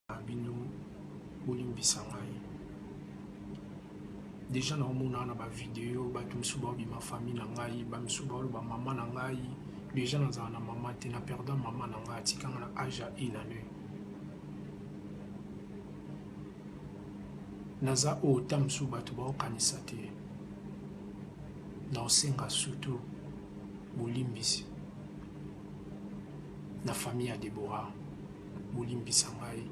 na bino bolimbisa ngai deja naomona na bavideo bato mosusu baobima fami na ngai bamisusu baoloba mama na ngai deja nazala na mama te na perda mama na ngai atikanga na age ya une année naza oyo ta mosusu bato baokanisa te naosenga sutu bolimbisi na fami ya deborah bolimbisa ngai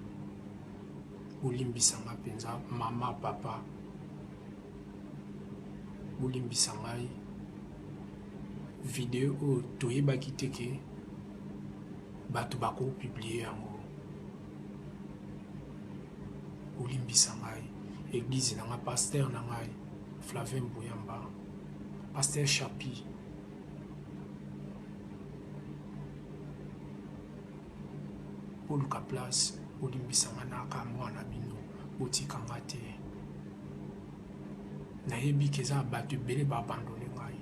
bolimbisa ngai mpenza mama papa bolimbisa ngai video oyo toyebaki te ke bato bakopiblie yango bolimbisa ngai eglize na ngai paster na ngai flavin boyamba paster chapi boluka place bolimbisa nga naka mwa na bino botika nga te nayebi ke eza bato ebele ba abandone ngai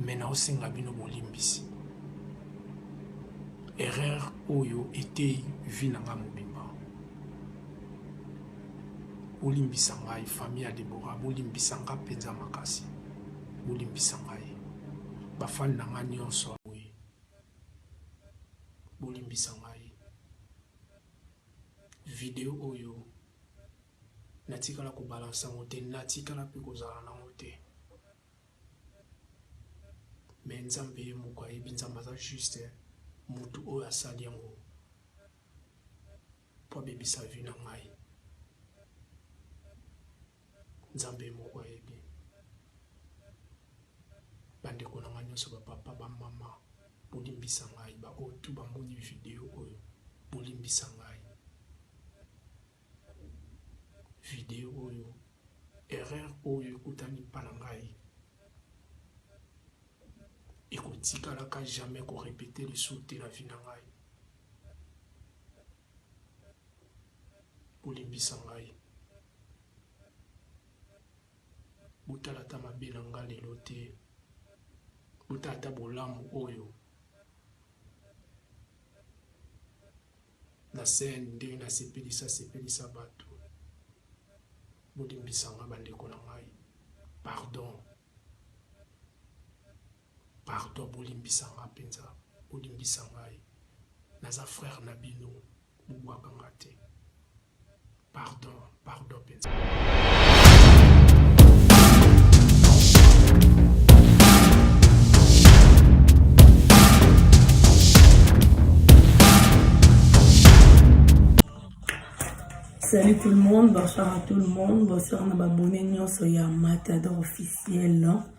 me naosenga bino bolimbisi erreur oyo eteyi vi na ngai mobimba bolimbisa ngai famille ya debora bolimbisa ngai mpenza makasi bolimbisa ngai bafani na ngai nyonso awe bolimbisa ngai video oyo natikala kobalansa yango te natikala mpe kozala nango te me nzambe ye moko ayebi nzambe aza juste motu oyo asali yango mpo abebisa vi na ngai Nzambe ye moko ayebi. Ba ndeko na nga nionso ba papa ba mama bo limbisa ngai ba oyo tout ba moni video oyo bo limbisa ngai video oyo erreur oyo ekutani pa na ngai ekotikalaka jamais ko repeter lisusu te na vie na ngai bolimbisa ngai botala ata mabe na ngai lelo te botala ata bolamu oyo na scène ndenge nasepelisa sepelisa bato bolimbisa ngai bandeko na ngai pardon Pardon bolimbisa nga penza bolimbisa ngai naza frère na bino bobuaka nga te pardon pardon penza Salut tout le monde, bonsoir à tout le monde, bonsoir na babone nyonso ya Matador officiel.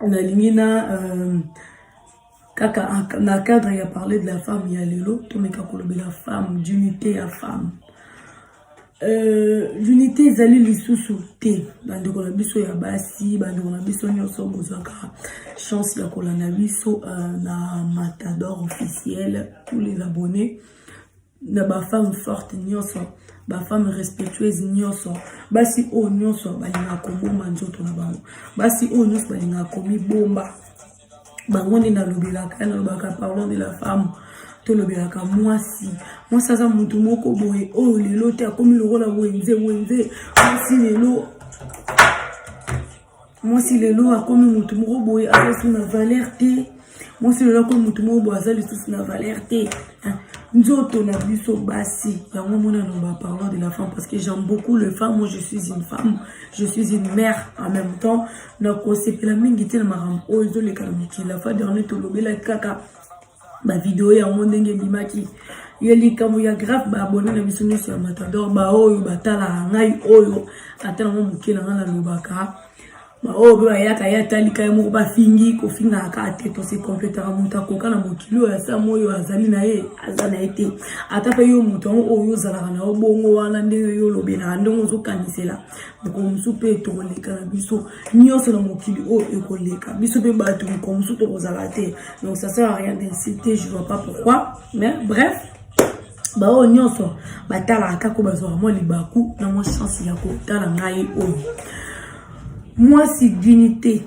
nalingi na euh, kaka na cadre ya parler de la femme ya lelo tomeka kolobela femme d'unité ya femme Euh, l'unité ezali lisusu te bandeko na biso ya basi bandeko na biso nyonso bozwaka chance ya kolanda biso euh, na matador officiel tous les abonnés na ba femme forte nyonso ba femme respectueuse nyonso basi oyo nyonso balingaka kobomba nzoto na bango basi oyo nyonso balingaka komibomba bango nde nalobelaka nalobaka pardon de la femme tolobelaka mwasi mwasi aza motu moko boye oyo lelo te akomi lokola wenze wenze mwasi lelo mwasi lelo akomi motu moko boye aza lisusu na valeur te mwasi lelo akomi motu moko boye aza lisusu na valeur te ah, nzoto na biso basi yango mona nomba parlant de la femme parce que j'aime beaucoup le femme moi je suis une femme je suis une mère en même temps nakosepela mingi te na makambo oyo ezoleka na mokili la fois dernier tolobelaki kaka ba video yango ndenge ebimaki ye likambo ya grave baabone na biso nyonso ya matador baoyo batalaka ngai oyo ata nango moke na ngai nalobaka baoyo mpe bayaka ye atalika ye moko bafingi kofingaka kaka te tose kompletaka moto akoka na mokili oyo asa moyo azali na ye aza na ye te ata mpe yo moto yango oyo ozalaka na yo bongo wana ndenge yo olobelaka ndenge ozokanisela mokolo mosusu mpe tokoleka na biso nyonso na mokili oyo ekoleka biso mpe bato mokolo mosusu tokozala te donc ça sert à rien d'insulter je vois pas pourquoi mais bref baoyo nyonso batalaka kaka bazwaka mwa libaku na mwa chance ya kotala ngai oyo mwasi dignité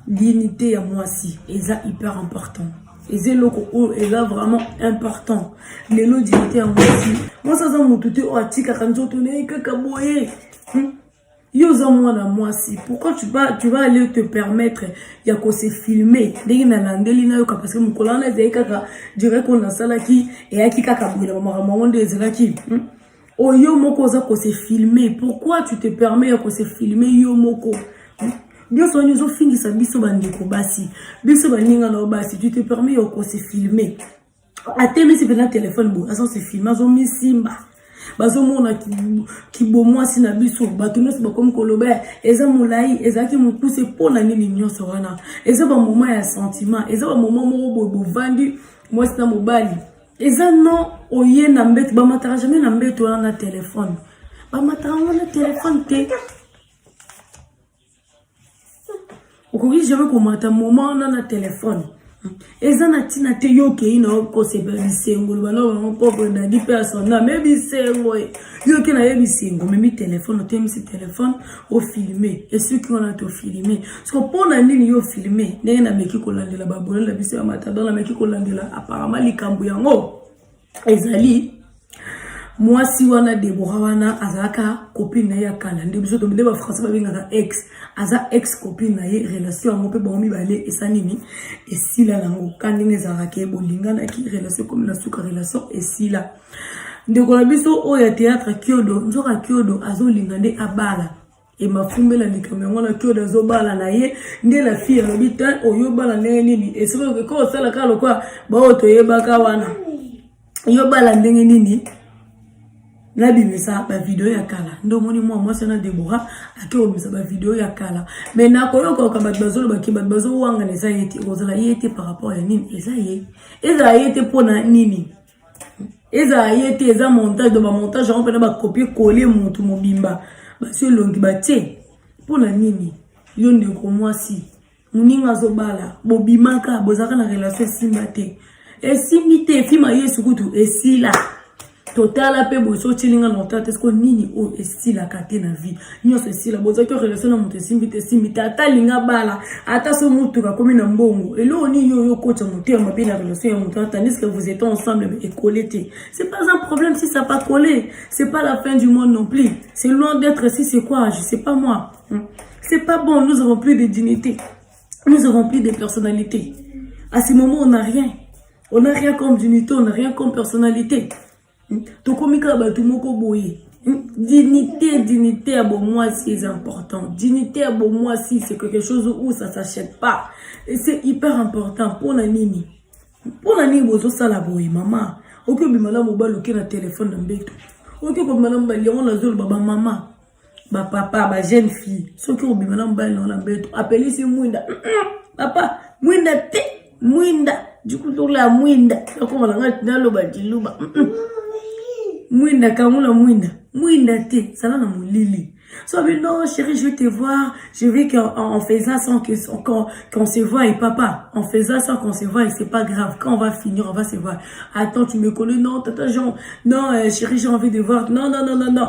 dignité ya mwasi eza hyper important eza eloko oyo eza vraiment important lelo dignité ya mwasi mwasi aza motu te oyo atikaka nzoto na ye kaka boye hmm? yo oza mwana mwasi pourquoi tu vas, tu vas aller te permettre ya kose filme ndenge nalandeli nayoka parce que mokolo wana ezalaki kaka direct oyo nasalaki eyaki kaka boye na bamakambo yango nde ezalaki hmm? oyo oh, moko oza kose filme pourquoi tu te permets ya kose filme yo moko hmm? nyonso wana ezofingisa biso bandeko basi biso baninga na yo basi tu te permets ya kose filme atemisi mpenza telefone boye aza se filme azomisimba bazomona kibomwasi na biso bato nyonso bakomi koloba eza molai ezalaki mokuse mpo na nini nyonso wana eza bamoma ya sentiment eza bamoma moko boye bovandi mwasi na mobali eza no oye na mbeto bamataka jamai na mbeto wana na telefone bamataka yango na telefone te okoki jamais komata moma wana na telefone eza na ntina te yo okei na yo kosepela bisengo loba na bango propre dadi mpe asonda me bisengo e yo oke na ye bisengo omemi telefone otemisi telefone ofilme esuki wana te ofilme soko mpo na nini yo ofilme ndenge nameki kolandela babolele biso ya matadon nameki kolandela aparama likambo yango ezali mwasi wana debora wana azalaka copine na ye ya kala nde biso tomide bafrançais babengaka ex aza ex copine na ye relation yango mpe bango mibale esa nini esila nango ka ndenge ezalaka ke bolinganaki relation ekomi na suka relation esila ndeko na biso oyo ya théâtre kiodo nzoka kiodo azolinga nde abala emafumbela likambo yango na claude azobala na ye nde la fille alobi te oyobala ndenge nini esikoyo ko osala kaka lokola baoyo toyebaka wana yobala ndenge nini nabimisa bavideo ya kala nde omoni mwa mwasi wana debora ake kobimisa bavideo ya kala me nakoyokaoka bato bazolobaki bato bazowangana eza ye te okozala ye te par rapport ya nini eza ye ezala ye te mpo na nini ezala ye te eza montage do bamontage yango mpena bakopie kole motu mobimba basi elongi batie mpo na nini yo ndeko mwasi moninga azobala bobimaka bozalaka na relation esimba te esimbi te efima yesu kutu esila totala mpe boye soki otyelinga na otala te soko nini oyo esilaka te na vie nyonso esila bozaki o relation na moto esimbi te esimbi te ata alinga bala ata so motuka akomi na mbongo eloko nini yo oyokotya motema mabe na relation ya moto tandis que vous étant ensemble mais ekole te c'est pas un problème si ça pas collé c'est pas la fin du monde non plus c'est loin d'être si c'est quoi je sais pas moi hmm. c'est pas bon nous avons plus de dignité nous avons plus de personnalité à ce moment on n'a rien on n'a rien comme dignité on n'a rien comme personnalité Hmm? tokomi kaka bato moko boye hmm? dignité dignité ya bomwasi eza important dignité ya bomwasi c'est quelque chose où ça s'achète pas et c'est hyper important mpona nini mpona nini bozosala boye mama oki obima na mobali oke na telefone na mbeto oki kobima na mobali yango nazoloba bamama ba papa ba jeune fille soki obima na mobali nao na mbeto apelisi mwinda papa mwinda te mwinda dikutola ya mwinda nakoma na ngai naloba diluba mwinda kangula mwinda mwinda te zala na molili So, mais non, chérie, je vais te voir. Je vais qu'en en faisant sans qu'on qu se voie. Et papa, en faisant sans qu'on se voie, c'est pas grave. Quand on va finir, on va se voir. Attends, tu me connais. Non, tata Jean. Non, euh, chérie, j'ai envie de voir. Non, non, non, non, non.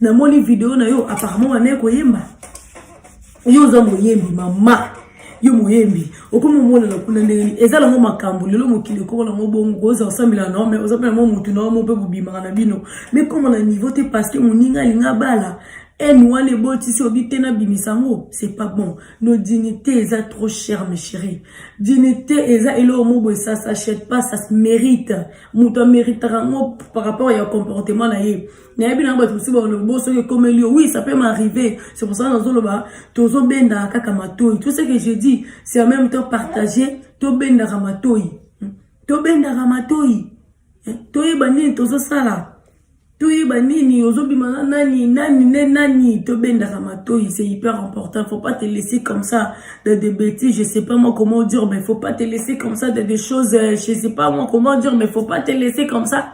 namoni video na yo apparemment wana ekoyemba yo oza moyembi mama yo moyembi okomi omonana kuna ndenge nini eza nango makambo lelo mokili ekoma nango bongo oza osambela na ome oza mpe nango motu na omo mpe bobimaka na bino me koma na niveau te parce que moninga alinga bala haine wana ebotisi obi te nabimisa yango c'est pas bon no dignité eza trop cher mes chéri dignité eza eloko mobo esa s'achète pas ça se mérite moto ameritaka yango par rapport ya comportement na ye nayebi nango bato mosusu balobi bo soki ekomeli yo oui ça peut m'arriver c'est pour ça nazoloba tozobendaka kaka matoi tout ce que je dis c'est en même temps partager tobendaka matoi hmm. tobendaka matoi eh, toyeba nini tozosala toyeba nini ozobima na nani nani ne nani tobendaka matoi c'est hyper important faut pas te laisser comme ça de des bêtises je sais pas moi comment dire mais faut pas te laisser comme ça de des choses euh, je sais pas moi comment dire mais faut pas te laisser comme ça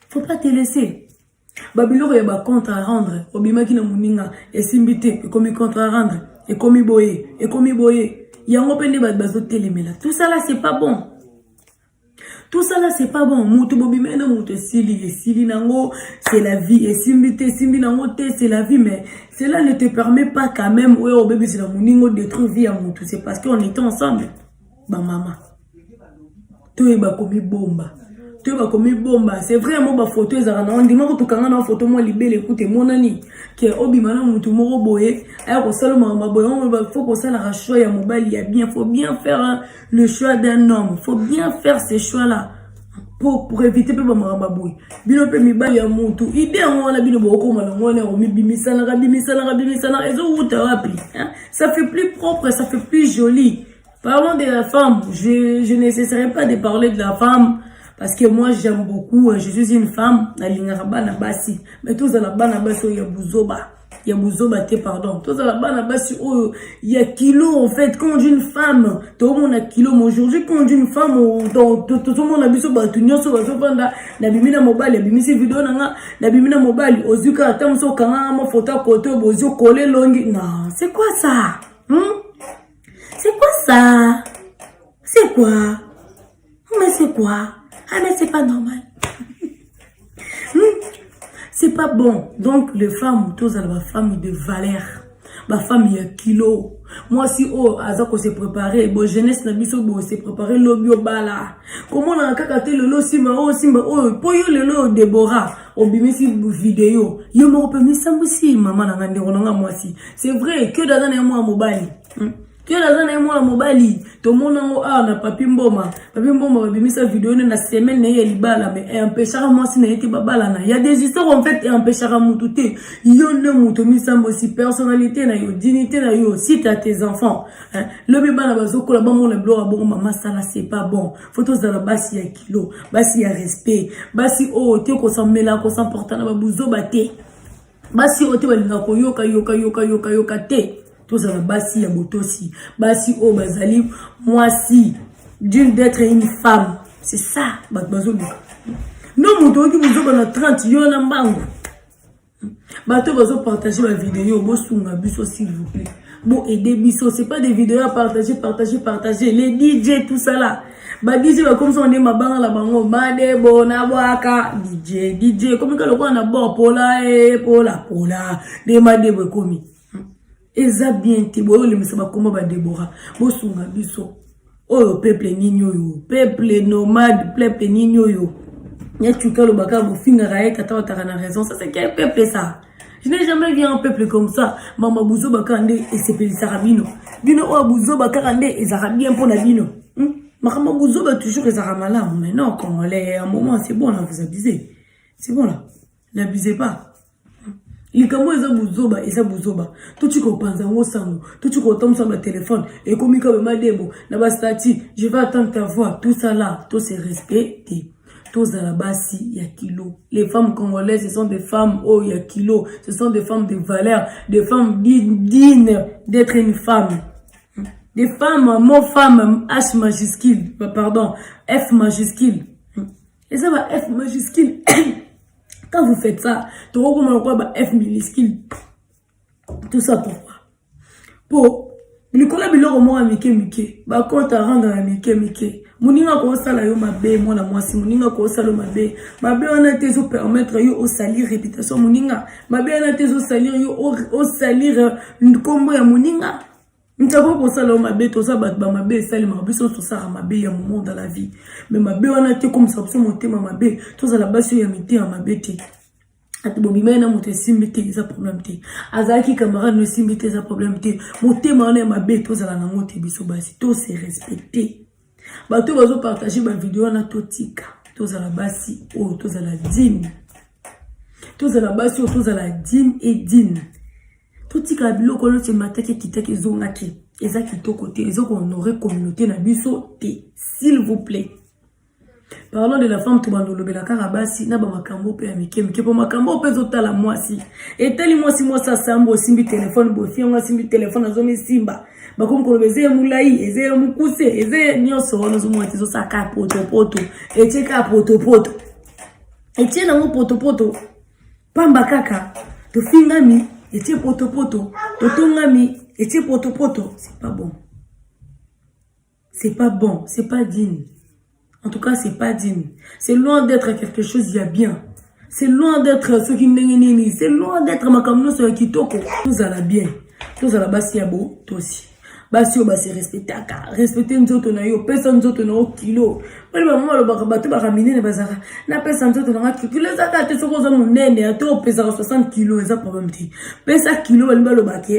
faut pas te laisser babiloko ya bacontre à rendre obimaki na moninga esimbi te ekomi contre à rendre ekomi boye ekomi boye yango mpe nde bato bazotelemela tout ça là c'est pas bon tout ça là c'est pas bon moto bobimeli na moto esili esili nango c'est la vie esimbi te esimbi nango te c'est la vie mais cela ne te permet pas quand même oyo obebisela moninga odétruire vie ya moto c'est parce qu'on était ensemble bamama toyeba komibomba toyeba komibomba c'est vrai mo bafoto ezalaka na wandi moko tokanga na bafoto mwa libele ekuta emonani ke obima na motu moko boye aya kosala makambo boye yango fo kosalaka choix ya mobali ya bien faut bien faire le choix d'un homme faut bien faire ce choix là pour, pour éviter mpe bamakambo boye bino mpe mibali ya motu ide yango wana bino bokokoma nango wana komibimisanaka bimisanaka bimisanaka ezowuta wapi ça fait plus propre ça fait plus jolie Parlons de la femme. Je, je n'essaierai pas de parler de la femme parce que moi j'aime beaucoup. Je suis une femme. Nalingaka bana basi. Mais tous la bana basi oyo ya buzoba. Ya buzoba te pardon. Tous la bana basi oyo ya kilo en fait. Quand une femme, tout le monde a kilo. Mais aujourd'hui quand une femme, tout le monde a biso batu nyoso bazo banda na bimina mobali, bimisi video na nga, na bimina mobali. Ozuka atamso kanga ma photo koto bozo coller longi. Non, c'est quoi ça? Hmm? C'est quoi ça C'est quoi oh, Mais c'est quoi Ah mais c'est pas normal. Hmm. c'est pas bon. Donc les femmes, tous les femmes de valeur. Ma femme ya kilo moi si oh aza ko se préparer bo jeunesse na biso bo se préparer lobi obala comment na kaka te lelo simba oh simba oh po yo lelo Deborah obimisi video yo moko mpe misambwisi mama na ngai ndeko na ngai mwasi c'est vrai kiodo aza na ye mwana mobali hmm? kiodo aza na ye mwana mobali tomona yango awa na papi mboma papi mboma babimisa video ne na semaine na ye ya libala me empechaka mwasi na ye te babalana ya des histoires en fait empechaka motu te yo nde moto misambwisi personnalité na yo dignité na yo site à tes enfants lobi bana bazokola bamona biloko ya bongo mama sala c'est pas bon fo tozala basi ya kilo basi ya respect basi oyo oh, te kosamela kosamporta na babuzoba te basi oyo oh, te balingaka koyoka yoka yoka yoka yoka te tozala basi ya botosi basi oyo oh, bazali mwasi d'une d'être une femme c'est ça bato bazoluka no moto oyoki bozoba na 30 yo na mbangu bato bazo partage ba video bosunga biso s'il vous plaît bo aider biso c'est pas des vidéos à partager partager partager les DJ tout ça là ba DJ ba comme ça on est mabanga la bango made bona bwaka DJ DJ comme ka lokola na bo pola e pola pola de made bo komi eza bien te boyolemisa bakoma badebora bosunga biso oyo peuple nini oyo peuple nomade peuple nini oyo nyacuki alobaka bofingaka ye tata wataka na raison ça c'est quel peuple ça je n'ai jamais vu un peuple comme ça mama buzoba kaka nde esepelisaka bino bino oyo buzoba kaka nde ezalaka bien mpo na bino hmm? makambo buzoba toujours ezalaka malamu mais non congolais ya moment c'est bon là vous abusez c'est bon là na bizepa likambo oyo eza buzoba eza buzoba toci kopanza yango sango toci kotambusa batelefone ekomi kabe madebo na bastati je vais attendre ta voix tout ça là to se respecte tozala basi ya kilo les femmes congolaises ce sont des femmes oyo oh, ya kilo ce sont des femmes de valeur des femmes dignes d'être une femme des femmes mot femme h majuscule pardon f majuscule eza ba f majuscule quand vous faites ça tokokoma lokola ba f minuscule tout ça pourquoi po likolo ya biloko moko ya mike mike bakota ranga ya mike mike moninga akosala yo mabe mwana mwasi moninga akosala yo mabe mabe wana te ezopermettre yo osalir reputation moninga mabe wana te ezosalir yo osalir nkombo ya moninga ntako kosala yo mabe toza bato bamabe esalemaka biso nyonso tosaka mabe ya moment dans la vie me mabe wana te ekomisa biso motema mabe tozala basi oyo ya mitema mabe te ati bobimai na moto esimbi te eza problème te azalaki camarade no esimbi te eza problème te motema wana ya mabe tozala nango te biso basi to se respecte bato bazo partage ba video wana totika tozala basi oyo tozala dine tozala basi oyo tozala dine e dine totikala biloko oyo ce mataki ekitaki ezongaki eza kitoko te eza kohonore communauté na biso te s'il vous plaît parlon de la femme tobanda olobela kaka basi na bamakambo mpe ya mike mike mpo makambo mpe ezotala mwasi etali mwasi mwasi asambo osimbi telefone bofi yango asimbi telefone azomisimba bakomi koloba eza ye molai eza ye mokuse eza ye nyonso wana ozomona te ezosala kaka potopoto etie kaka potopoto etie nango potopoto pamba kaka tofingami etie potopoto totongami etie potopoto c'est pas bon C'est pas bon, c'est pas digne. En tout cas, c'est pas digne. C'est loin d'être quelque chose de bien. C'est loin d'être ce qui n'est C'est loin d'être ma comme nous sur Kitoko. Nous allons bien. Nous allons basi ya bo, toi aussi. Basi yo basi respectaka. Respecter nzoto na yo, pesa nzoto na yo kilo. Pali ba mama lobaka bato ba kamine na bazaka. Na pesa nzoto na ngaki kilo zaka te soko za munene, ato pesa 60 kilo eza problème te. Pesa kilo ba lobaka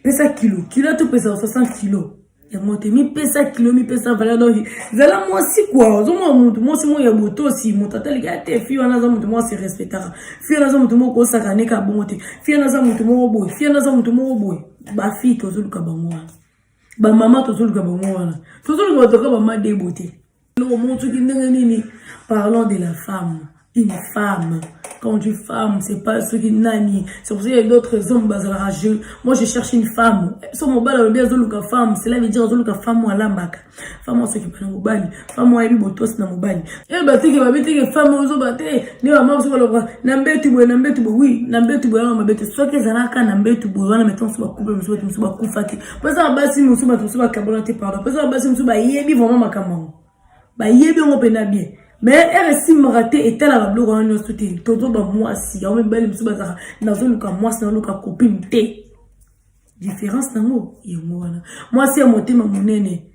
pesa kilo kilo ata opesa 60 kilo yango te mipesa kilo mipesa valeur donc zala mwasi kua ozomona motu mwasi moko ya botosi moto ataliki ate fi wana aza motu moko aserespectaka fi wana aza motu moko kosakaneka bongo te fi wana aza motu moko boye fi wana aza motu moko boye bafille tozoluka bango wana bamama tozoluka bango wana tozoluka bato kaka bama debo te Omotuki ndenge nini parlant de la femme une femme quand tu femme c'est pas ce qui nani c'est pour ça il y a d'autres hommes bazalaka je moi je cherche une femme so mobali alobi azoluka femme cela veut dire azoluka femme oyo alambaka femme oyo asokipa na mobali femme oyo ayebi botosi na mobali e batiki babitiki femme oyo ozoba te nde bama mosusu baloba na mbetu boye na mbetu boye wi na mbetu boye wana mabe te soki ezalaka na mbetu boye wana metanso bakupe mosusu batu mosusu bakufa te pesa na basi mosusu bato mosusu bakabona te pardon pesa na basi mosusu bayebi vraiment makambo yango bayebi yango mpenza bien mais ere esimbaka te etalaka biloko wana nyonso te tozo bamwasi yango mibali mosusu bazalaka nazoluka mwasi naluka copine te différence nango yango wana mwasi ya motema monene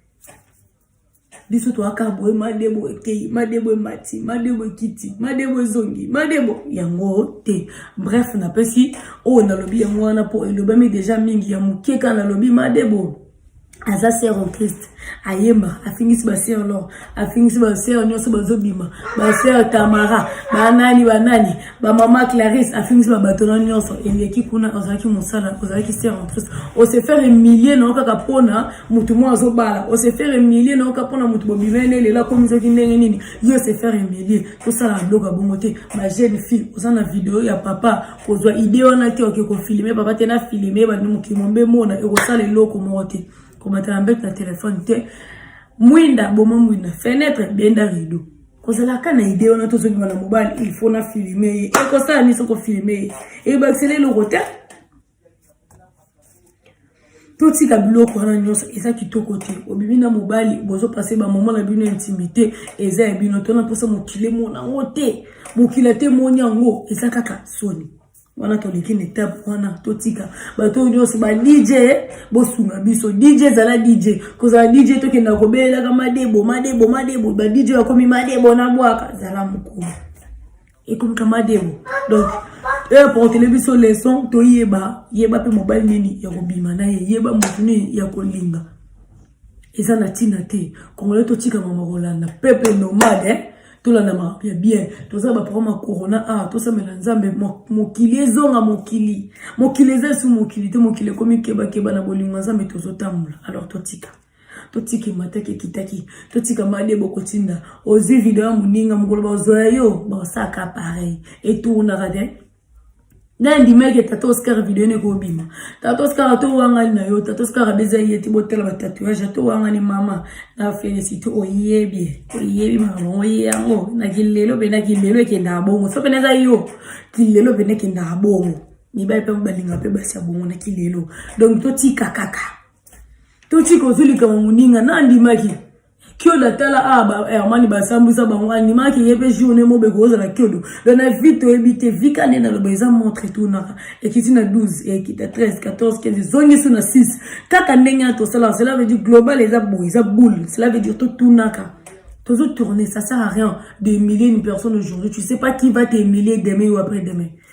biso toyaka boye madebo ekei madebo emati madebo ekiti madebo ezongi madebo yango te bref napesi oyo nalobi yango wana mpo elobami deja mingi ya moke kaka nalobi madebo aza ser en christ ayemba afingisi baser lor afingisi baser nyonso bazobima baser tamara banani banani ba mama Clarisse afingisi ba bato na nyonso eleki kuna ozalaki mosala ozalaki sœur en Christ o se faire humilier na kaka pona mutu mo azobala o se faire humilier na kaka pona mutu bobimene lela komi soki ndenge nini yo se faire humilier tosala biloko ya bongo te ba jeune fille oza na video ya papa kozwa idée wana te oke kofilme papa te na filme bandi mokili mombe mona ekosala eloko moko te komatala mbete na telefone te mwinda boma mwinda fenetre benda rideau kozalaka na idee wana tozobima na mobali il faut na filme ye ekosala nini soko filme ye ebakisela eloko te totika biloko wana nyonso eza kitoko te obimi na mobali bozopase bamama na bino intimité eza ya bino to na mposa mokili emona yango te mokili ate emoni yango eza kaka soni wana toleki na etape wana totika bato oyo nyonso ba dj bosunga biso dj ezala dj kozala dj tokenda kobelelaka madebo madebo madebo ba dj oyo akomi madebo na bwaka zala mokolo ekomika madebo donc eportele eh, biso leson toyeba yeba mpe mobali nini ya kobima na ye yeba motu nini ya kolinga eza na tina te congolais totika mama kolanda peuple nomade eh? tolanda makambo ya bien toza baprograme ya corona awa ah, tosamela nzambe mokili ezonga mokili mokili eza esu mokili te mokili ekomi kebakeba na bolingo ya nzambe tozotambola alors totika totika emataki ekitaki totika made bokotinda ozwi video ya moninga mokolo bazwa yo basaka pareil etournaka te ngai ndimaki ya tata oscar video ene ekobima tata oscar to wangani na yo tata oscar abeza ye te botala batatuage to wangani mama na felicite oyebi oyebi mamango ye yango na kilelo mpena kilelo ekendaka bongo so mpena eza yo kilelo mpena ekendaka bongo mibali mpe balinga mpe basi ya bongo na kilelo donc totika kaka totika ozwi likambo moninga nandimaki kiodo atala awa ah, ba hermani eh, basambwisa bango andimaki ye mpe journe mobeko ozala kiodo don na vie toyebi te vika nde naloba eza montre etunaka ekiti na 12 ekita 13 14 15 ezongisi na 6 kaka ndenge ya tosala cela veut dire global eza boye eza boule cela veut dire totunaka tozo tourner ça sert à rien de humilier une personne aujourd'hui tu sais pas qui va t'humilier demain ou après demain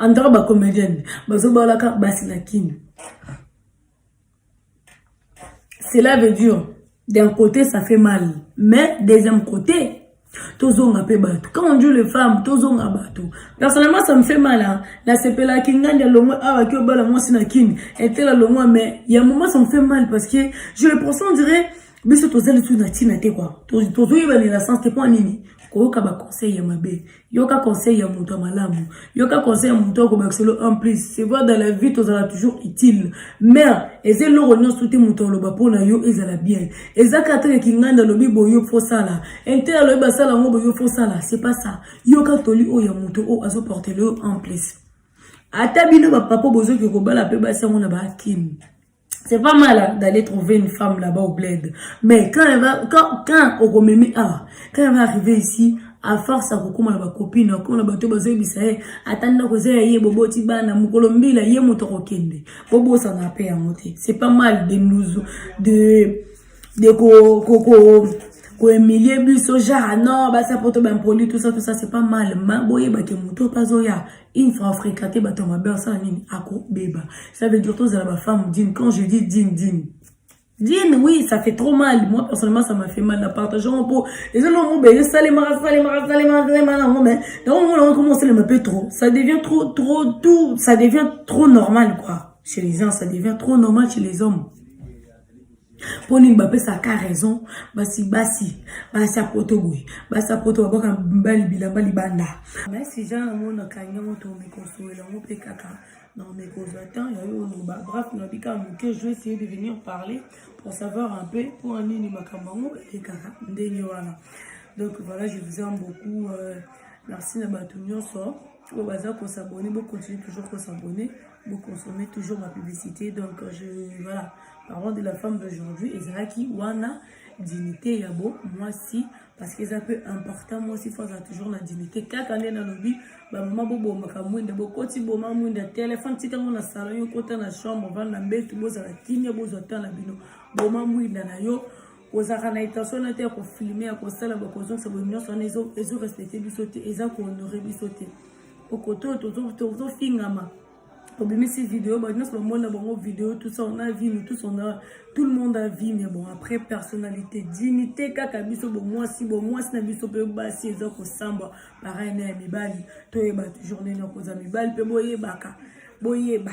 En tout cas, ba comédienne, bazo balaka basi na kin. Cela veut dire, d'un côté, ça fait mal. Mais, deuxième côté, tozonga pe bato quand on dit les femmes tozonga bato personnellement ça me fait mal hein la sepela kinganda longo awa ki obala mwasi na kin etela longo mais il y a un moment ça me fait mal parce que je le pense on dirait biso tozali tout na tina te quoi tozoyeba na la sens te point nini koyoka ba conseil ya mabe yoka conseil ya moto ya malamu yoka conseil ya moto akobakisa lo en plus c'est vrai dans la vie tozala toujours utile mais eza eloko nyonso te moto aloba mpo na yo ezala bien eza katele kinganda alobi boyo fosala intel alobi basala yango boyo fosala c'est pas ça yoka toli oyo ya moto oyo azoportele yo en plus ata bino bapapa bozoki kobala mpe basi yango na baakimi c'est pas mal hein, d'aller trouver une femme là-bas au bled mais quand elle va quand quand okomemi ah quand elle va arriver ici à force akokoma na bakopine akoma na bato bazoyebisa ye ata ndako eza ya ye boboti bana mokolo mbila ye moto akokende bobosana mpe yango te c'est pas mal de nous de de ko ko ko koemilie biso genre non basi ya poto baimpoli tout ça tout ça c'est pas mal ma boyebake moto mpe azoya une fois fréquenté bato ya mabe asala nini akobeba ça veut dire tozala bafemme dine quand je dis dine dine dine oui ça fait trop mal moi personnellement ça m'a fait mal na partage yango mpo eza na yango bele salemaka salemaka salemaka salemaka yango mais yango yango nango ekoma osalema mpe trop ça devient trop trop tout ça devient trop normal quoi chez les gens ça devient trop normal chez les hommes mpo nini bapesaka raison basi basi basi ya poto boye basi ya poto babwaka mbali bilamba libanda basi jean yango nakangi yango tomekosolela yango mpe kaka na omekozwa temps yayo oloba bref nabi kaka moke je essayer de venir parler pour savoir un peu mpo nini makambo yango elekaka ndenge wana donc voilà je vous aime beaucoup euh, merci na bato nyonso oyo baza kosabone bocontinue toujours kosabone boconsomme toujours ma publicité donc euh, je voilà parlant de la femme d'aujourd'hui ezalaki wana dignité ya bo mwasi parce que eza mpe important mwasi fo azala toujours na dignité kaka nde nalobi bamama bobomaka mwinda bokoti boma mwinda telefone tikango na salon yo kota na chambre vanda mbetu bozala kimia bozwa temps na bino boma mwinda na yo kozalaka na intention na te ya kofilme ya kosala bakozongisa boye nyonso wana ezorespecte biso te eza kohonore biso te okoto oyo tozofingama obimisi video bato nyonso bamona bango video tout ça on a vie nous tous on a tout le monde a vie mais bon après personnalité dignité kaka biso bomwasi bomwasi na biso mpe basi eza kosamba pareil na ya mibali toyeba toujours ndenge nakozala mibali mpe boyebaka boyeba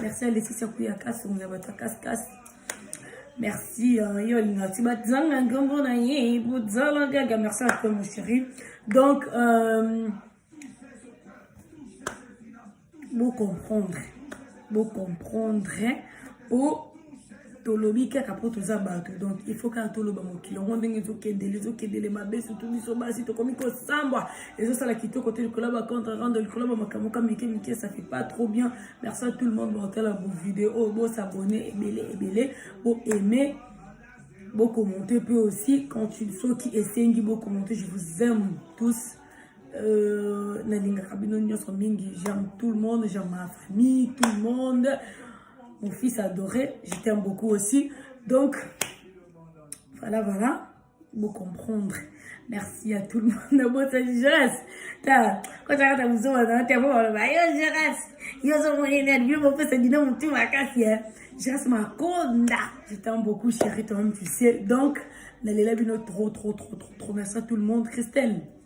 merci ya lefisi ya kuya kasi ya bato ya kasikasi merci euh, yo olingaka ti bazanga nkombo na ye bozala gaga merci à toi mon chéri donc euh, bocomprendre bocomprendre po tolobi kaka mpo toza bato donc il faut kaka toloba mokili yango ndenge ezokendele ezokendele mabe sutu biso basi tokomi kosambwa ezosala kitoko te likolo ya bacontre rando likolo ya bamakambo ka mike mike ça fait pas trop bien merci à tout le monde botala bovideo oyo bosabone ebele ebele boaime bokommente mpe aussi quand soki esengi bokommente je vous aime tous euh, nalingaka bino nyonso mingi j'aime tout le monde j'aime ma famille tout le monde mon fils adoré je t'aime beaucoup aussi donc voilà voilà vous comprendre merci à tout le monde nabotani jeres ta kotaka ta mozoma na te po baloba yo jeres yo ozomonene alibio bopesa dino motu makasi e jeres makonda je t'aime beaucoup chéri toi-même tu sais donc nalela bino trop trop trop trop trop merci à tout le monde christelle